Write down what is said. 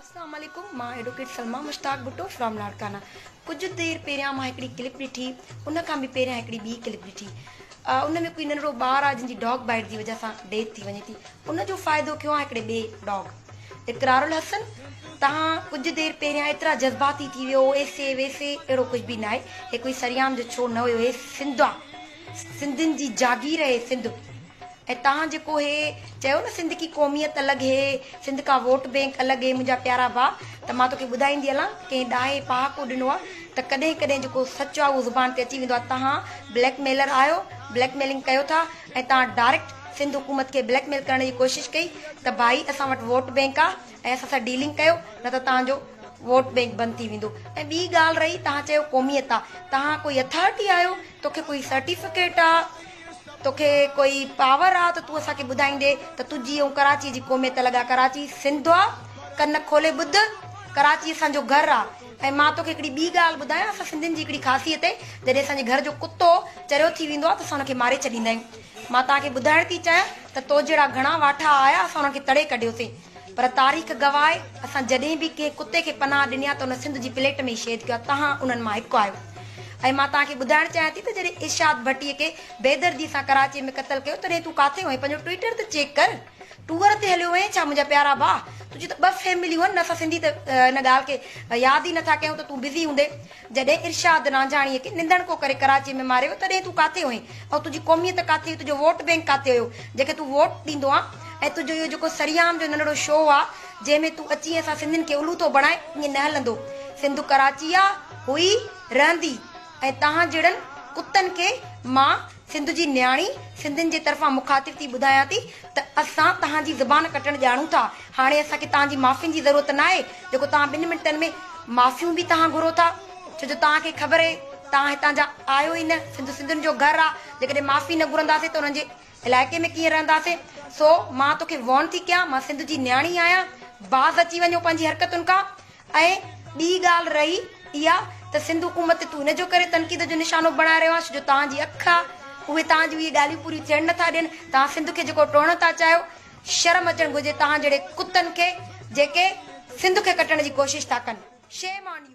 اسلام عليڪم مان ايڊوڪيٽ سلميٰ مشتاق ڀٽو فرام لاڙڪانا ڪجهه دير پهريان مان هڪڙي ڪلپ ڏٺي ان کان به پهريان هڪڙي ٻي ڪلپ ڏٺي ان ۾ ڪوئي ننڍڙو ٻار آهي جنهن جي ڊاگ بائيٽ جي وجهه سان ڊيٿ ٿي وڃي ٿي ان جو فائدو کيو آهي هڪڙي ٻي ڊاگ اقرار الحسن تهان ڪجهه دير پهريان ايترا جذباتي ٿي ويو ايسي ويسي اهڙو ڪجهه به ناهي هي ڪوئي سريام جو ڇو نه هيو هي سنڌ آهي سنڌين جي جاگير آهي سنڌ ۽ تهان جيڪو هي چيو نه سنڌ ڪي قوميت الڳ هي سنڌ ڪا ووٽ بينڪ الڳ هي منهنجا پيارا ڀاء ته مان توکي ٻڌائيندي هلان ڪنهن ڏاهي پهاڪو ڏنو آ ته ڪڏهن ڪڏهن جيڪو سچ آ اهو زبان تي اچي ويندو آ تهان بليڪ ميلر آهيو بليڪ ميلنگ ڪيو ٿا ۽ تهان ڊاريڪٽ سنڌ حڪومت کي بليڪ ميل ڪرڻ جي ڪوشش ڪئي ته ڀائي اسان وٽ ووٽ بينڪ آ ۽ اسان سان ڊيلنگ ڪيو نه ته تهان جو ووٽ بينڪ بند ٿي ويندو ۽ ٻي ڳالهه رهي تهان چيو قوميت آ تهان ڪوئي اٿارٽي آهيو توکي ڪوئي سرٽيفڪيٽ آ توکي ڪوئي پاور آ ته تون اسان کي ٻڌائيندي ته تنهنجي ۽ ڪراچي جي قوميت الڳ آ ڪراچي سنڌ آ ڪن کولي ٻڌ ڪراچي اسان جو گهر آ ۽ مان توکي هڪڙي ٻي ڳالهه ٻڌايان اسان سنڌين جي هڪڙي خاصيت اهي جڏهن اسان جي گهر جو ڪتو چريو ٿي ويندو آ ته اسان ان کي ماري ڇڏيندا آهيون مان توهان کي ٻڌائڻ ٿي چاهيان ته تو جهڙا گهڻا واٺا آيا اسان انهن کي تڙي ڪڍيوسين پر تاريخ گواهه آهي اسان جڏهن به ڪنهن ڪتي کي پناهه ڏني آهي ته ان سنڌ جي پليٽ ۾ ئي شهيد ڪيو آهي تهان انهن مان هڪ آهيو ۽ مان توهان کي ٻڌائڻ چاهيان ٿي ته جڏهن ارشاد ڀٽي کي بيدردي سان ڪراچي ۾ قتل ڪيو تڏهن تون ڪاٿي هئين پنهنجو ٽوئيٽر ته چيڪ ڪر ٽوئر تي هليو هئين ڇا منهنجا پيارا ڀاء تنهنجون ته ٻه فيمليون آهن نه اسان سنڌي ته ان ڳالهه کي ياد ئي نٿا ڪيون ته تون بزي هوندين جڏهن ارشاد رانجهاڻيء کي نندڻڪو ڪري ڪراچيء ۾ ماريو ويو تڏهن تون ڪاٿي هئين ۽ تنهنجي قوميت ڪاٿي هئي، تنهنجو ووٽ بئنڪ ڪاٿي هيو جنهن کي تون ووٽ ڏيندو آن ۽ تنهنجو اهو جيڪو سريام جو ننڍڙو شو آ جنهن ۾ تون اچي اسان سنڌين کي الو ٿو بڻائين ائين نه هلندو. سنڌ ڪراچي آ، هئي، رهندي ۽ توهان جهڙن ڪتن کي مان. سنڌ جي نياڻي سنڌين جي طرفان مخاطب ٿي ٻڌايان ٿي ته اسان تهان جي زبان ڪٽڻ ڄاڻون ٿا هاڻي اسان کي تهان جي معافين جي ضرورت ناهي جيڪو تهان ٻن منٽن ۾ معافيون به تهان گهرو ٿا ڇو جو تهان کي خبر اهي تهان هتان جا آهيو ئي نه سنڌ سنڌين جو گهر آ جيڪڏهن معافي نه گهرنداسين ته انهن جي علائقي ۾ ڪيئن رهنداسين سو مان توکي وارن ٿي ڪيان مان سنڌ جي نياڻي آهيان باز اچي وڃو پنهنجي حرڪتن کان. ۽ ٻي ڳالهه رهي اها ته سنڌ حڪومت تي تون ان جو ڪري تنقيد جو نشانو بڻائي رهيو آهين جو توهان جي اک آ اهي توهان جون اهي ڳالهيون پوريون ٿيڻ نه ٿا ڏين توهان سنڌ کي جيڪو ٽوڙڻ ٿا چاهيو شرم اچڻ گهرجي توهان جهڙي ڪتن کي جيڪي سنڌ کي ڪٽڻ جي ڪوشش ٿا ڪن شيم آن يو.